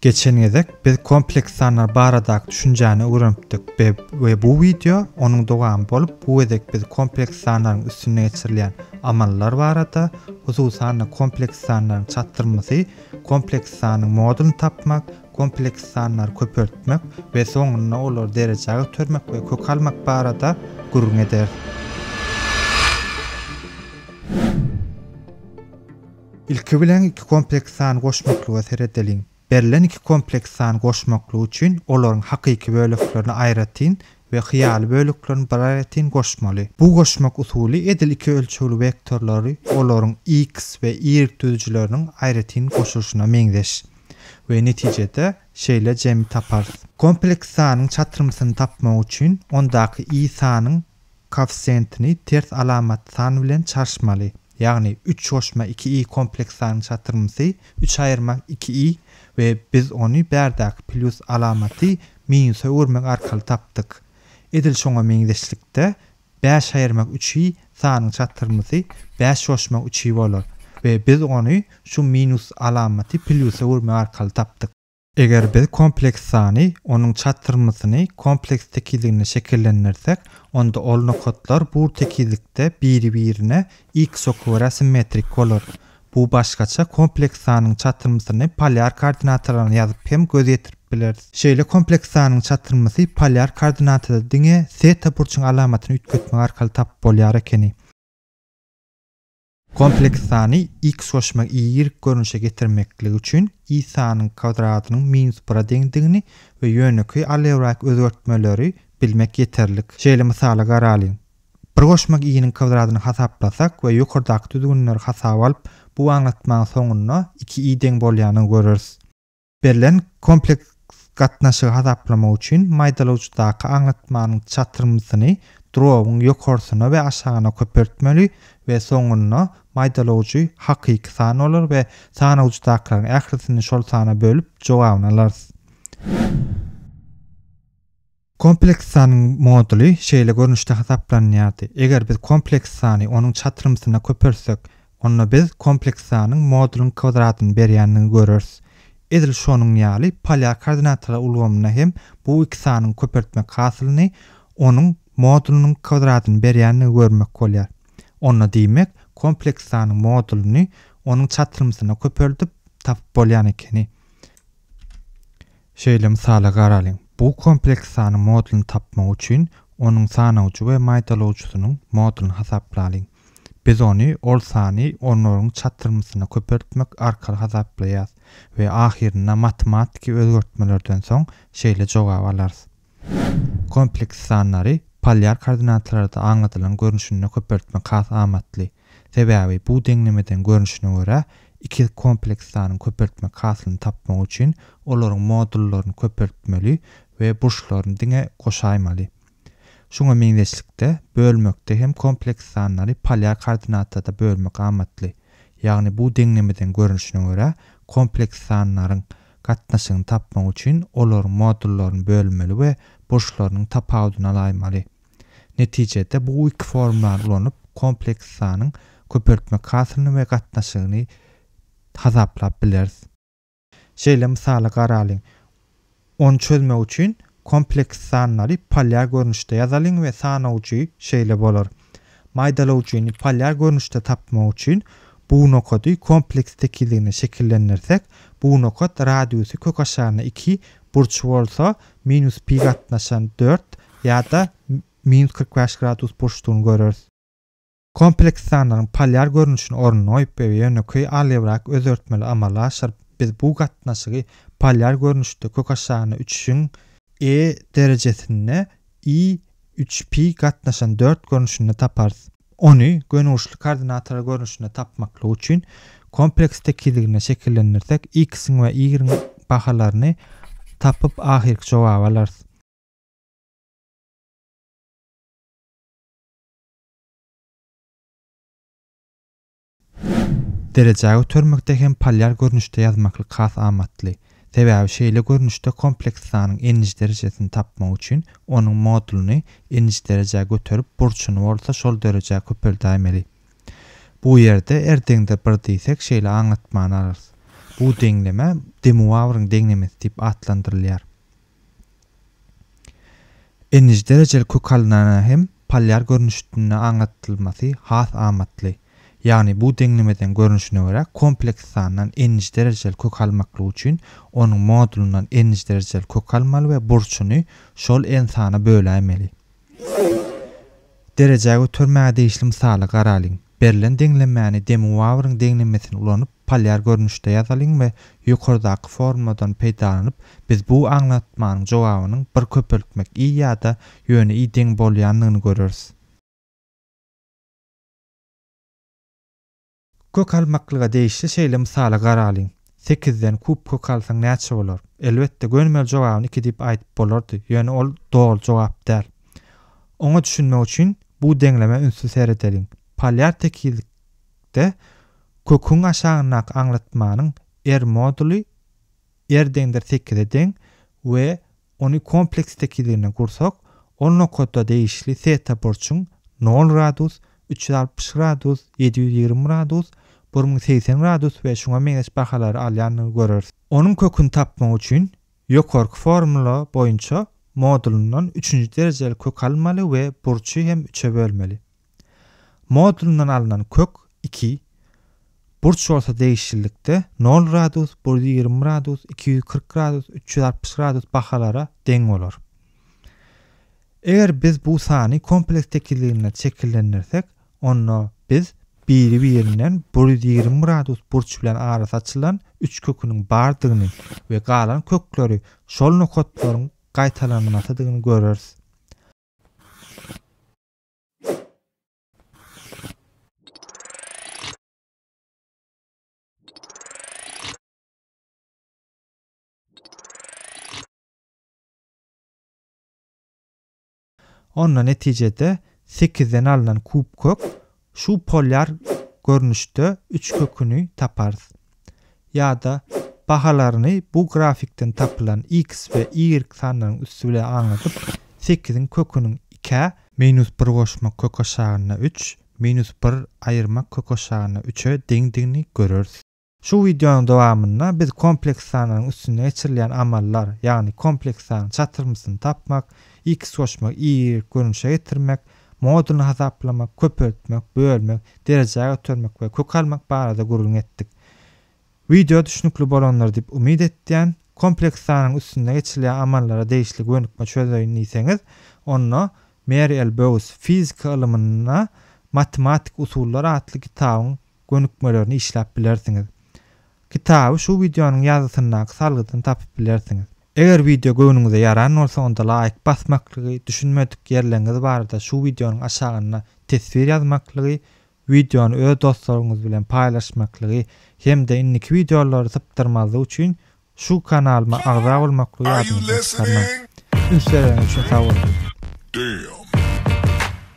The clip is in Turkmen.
Geçen gezek biz kompleks sanlar baradaky düşünjäni öwrenipdik we bu wideo onuň dowamy bolup bu gezek biz kompleks sanlaryň üstünde geçirilýän amallar barada, hususan-da kompleks sanlaryň çatyrmasy, kompleks sanyň modulyny tapmak, kompleks sanlary köpeltmek we soňunda olary derejä götermek we kök almak barada gürrüň ederis. Ilki bilen iki kompleks san goşmaklyga seredeliň. Berlen iki kompleks san goşmaklygy üçin olaryň hakyky böleklerini aýratyn we hyýaly böleklerini bir aýratyn goşmaly. Bu goşmak usuly edil iki ölçegli wektorlary olaryň x we y düzüjileriniň aýratyn goşulyşyna meňzeş we netijede şeýle jemi taparys. Kompleks sanyň çatrymsyny tapmak üçin ondaky y sanyň Koeffisiýentini ters alamat san bilen çarşmaly, ýagny üç goşma iki i kompleks sanyň çatyrmsy üç aýyrma iki i we biz ony bärdäki plýus alamaty minusa öwürmek arkaly tapdyk. Edil şoňa meňzeşlikde, bäş aýyrma üç i sanyň çatyrmsy bäş goşma üç i bolar we biz ony şu minus alamaty plýusa öwürmek arkaly tapdyk. Eger biz kompleks sany, onuň çatyrmasyny, kompleks tekizligini şekillendirsek, onda ol nokatlar bur tekizlikde biri-birine x oky görä simmetrik bolar. Bu başgaça kompleks sanyň çatyrmasyny polýar koordinatalaryna ýazyp hem göz ýetirip bileris. Şeýle kompleks sanyň çatyrmasy polýar koordinatada diňe seta burçuň alamatyny üýtgetmek arkaly tapyp bolýar ekeni. Kompleks sany x goşma y görnüşe getirmeklik üçin y sanyň kwadradynyň minus bire deňdigini we ýönekeý algebrak özgertmeleri bilmek ýeterlik. Şeýle mysaly garalyň. Bir goşma y-niň kwadradyny hasaplasak we ýokardaky düzgünleri hasaba alyp, bu aňlatmaň soňunda iki y deň bolýanyny göreris. Berlen kompleks gatnaşygy hasaplamak üçin maýdalawçydaky aňlatmanyň çatyrmsyny drobuň ýokarsyna we aşagyna köpeltmeli we soňunda maýdalawjy hakyky san bolar we sanawjydakylaryň ählisini şol sana bölüp jogabyny alarys. Kompleks sanyň moduly şeýle görnüşde hasaplanýardy, eger biz kompleks sany onuň çatrymsyna köpeltsek, onda biz kompleks sanyň modulyň kwadratyny berýändigini göreris. Edil şonuň ýaly polýar koordinatalar ulgamynda hem bu iki sanyň köpeltmek hasylyny onuň modulynyň kwadratyny berýändigini görmek bolýar. Onda diýmek, kompleks sanyň modulyny onuň çatrymsyna köpeldip tapyp bolýan ekeni. Şeýle mysala garalyň, bu kompleks sanyň modulyny tapmak üçin onuň sanawjy we maýdalawjysynyň modulyny hasaplalyň. Biz ony ol sany onlaryň çatyrmysyna köpeltmek arkaly hasaplaýarys we ahyrynda matematiki özgertmelerden soň şeýle jogaby alarys. Kompleks sanlary polýar koordinatalarda aňladylan görnüşinde köpeltmek has amatly. Sebäbi bu deňlemeden görnüşine görä, ikiz kompleks sanyny köpeltmek hasylyny tapmak üçin olaryň modullaryny köpeltmeli we burçlaryny diňe goşaýmaly. Şuňa meňzeşlikde, bölmekde hem kompleks sanlary polýar koordinatada bölmek amatly, ýagny bu deňlemeden görnüşine görä, kompleks sanlaryň gatnaşygyny tapmak üçin olaryň modullaryny bölmeli we burçlarynyň tapawudyny alaýmaly. Netijede, bu iki formulany ulanyp, kompleks sanyň köpeltmek hasylyny we gatnaşygyny hasaplap bileris. Şeýle mysaly garalyň. Ony çözmek üçin kompleks sanlary polýar görnüşde ýazalyň we sanawjy şeýle bolar. Maýdalawjyny polýar görnüşde tapmak üçin bu nokady kompleks tekizligine şekillendirsek, bu nokat radiusy kökaşaryna iki Burç bolsa minus pi gatnaşan dört ýa-da minus kyrk bäş gradus burçdugyny göreris. Kompleks sanlaryň polýar görnüşini ornuny goýup we ýönekeý algebrak özgertmeleri amala aşyryp, biz bu gatnaşygy polýar görnüşde kökaşagyna üçüň, e, derejesinde i, üç pi gatnaşan dört görnüşinde taparys. Ony gönügurçly koordinator görnüşinde tapmaklyk üçin kompleks tekizliginde şekillendirsek, x-iň we y-iň bahalaryny tapyp, ahyrky jogaby alarys. Derejä götermekde hem polýar görnüşde ýazmaklyk has amatly. Sebäbi şeýle görnüşde kompleks sanyň n-nji derejesini tapmak üçin onuň modulyny n-nji derejä göterip burçuny bolsa şol derejä köpeldäýmeli. Bu ýerde r deňdir bir diýsek şeýle aňlatmany alarys. Bu deňleme De Muawryň deňlemesi diýip atlandyrylýar. Nji derejeli kök alynana hem polýar görnüşdnde aňlatylmasy has amatly. Ýagny bu deňlemeden görnüşine görä kompleks sandan nji derejeli kök almaklyk üçin onuň modulyndan nji derejeli kök almaly we burçuny şol n sana böläýmeli. Derejä götermäge degişli mysaly garalyň. Berlen deňlemäni demuwawryň deňlemesini ulanyp Polýar görnüşde ýazalyň we ýokardaky formuladan peýdalanyp, biz bu aňlatmanyň jogabynyň bir köpeltmek i ýa-da ýöne i deň bolýandygyny göreris. Kök almaklyga degişli şeýle mysaly garalyň, Sekizden kub kök alsaň näçe bolar? Elbetde, gönümel jogabyny iki diýip aýdyp bolardy, ýöne ol doly jogap däl. Oňa düşünmek üçin bu deňlemä ünsli seredeliň. Polýar tekizlik. Şeýlelikde, köküň aşagyndaky aňlatmanyň R moduly R deňdir sekize deň we ony kompleks tekizligine gursak, ol nokada degişli teta burçuň nol gradus, üç ýüz altmyş gradus, ýedi ýüz ýigrimi gradus, bir müň segsen gradus we şuňa meňzeş bahalary alýandygyny göreris. Onuň köküni tapmak üçin, ýokarky formula boýunça modulyndan üçünji derejeli kök almaly we burçy hem üçe bölmeli. Modulyndan alnan kök iki burç bolsa degişlilikde nol gradus, bir ýüz ýigrimi gradus, iki ýüz kyrk gradus, üç ýüz altmyş gradus bahalara deň bolar. Eger biz bu sany kompleks tekizliginde şekillendirsek, onda biz biri-birinden bir ýüz ýigrimi gradus burç bilen arasy açylan üç köküniň bardygyny we galan kökleri şol nokatlaryň gaýtalanmasydygyny göreris. Onda netijede sekizden alnan kub kök şu polýar görnüşde üç köküni taparys. ýa-da bahalaryny bu grafikden tapylan x we y sanlaryň üsti bilen aňladyp, sekiziň köküniň ikä, minus bir goşmak kök aşagynda üç, minus bir aýyrmak kök aşagynda üçe deňdigini göreris. Şu wideonyň dowamynda biz kompleks sanlaryň üstünde geçirilýän amallar, ýagny kompleks sanyň çatyrmysyny tapmak, x goşmak, y görnüşe getirmek, Modulyny hasaplamak, köpeltmek, bölmek, derejä götermek we kök almak barada gürrüň etdik. Wideo düşnükli bolandyr diýip umyt etýän. Kompleks sanyň üstünde geçilýän amallara degişli gönükme çözeýin diýseňiz, onda Mary L. Bowes, Fizika ylymynda matematik usullar atly kitabyň gönükmelerini işläp bilersiňiz. Kitaby şu wideonyň ýazgysyndaky salgydan tapyp bilersiňiz. Eger wideo göwnüňize ýaran bolsa onda laýk basmaklygy, düşünmedik ýerleriňiz barada şu wideonyň aşagynda teswir ýazmaklygy, wideony öz dostlaryňyz bilen paýlaşmaklygy hem-de indiki wideolary sypdyrmazlyk üçin şu kanalyma agza bolmaklygy ýadyňyzdan çykarmaň. Üns bereňiz üçin sag boluň.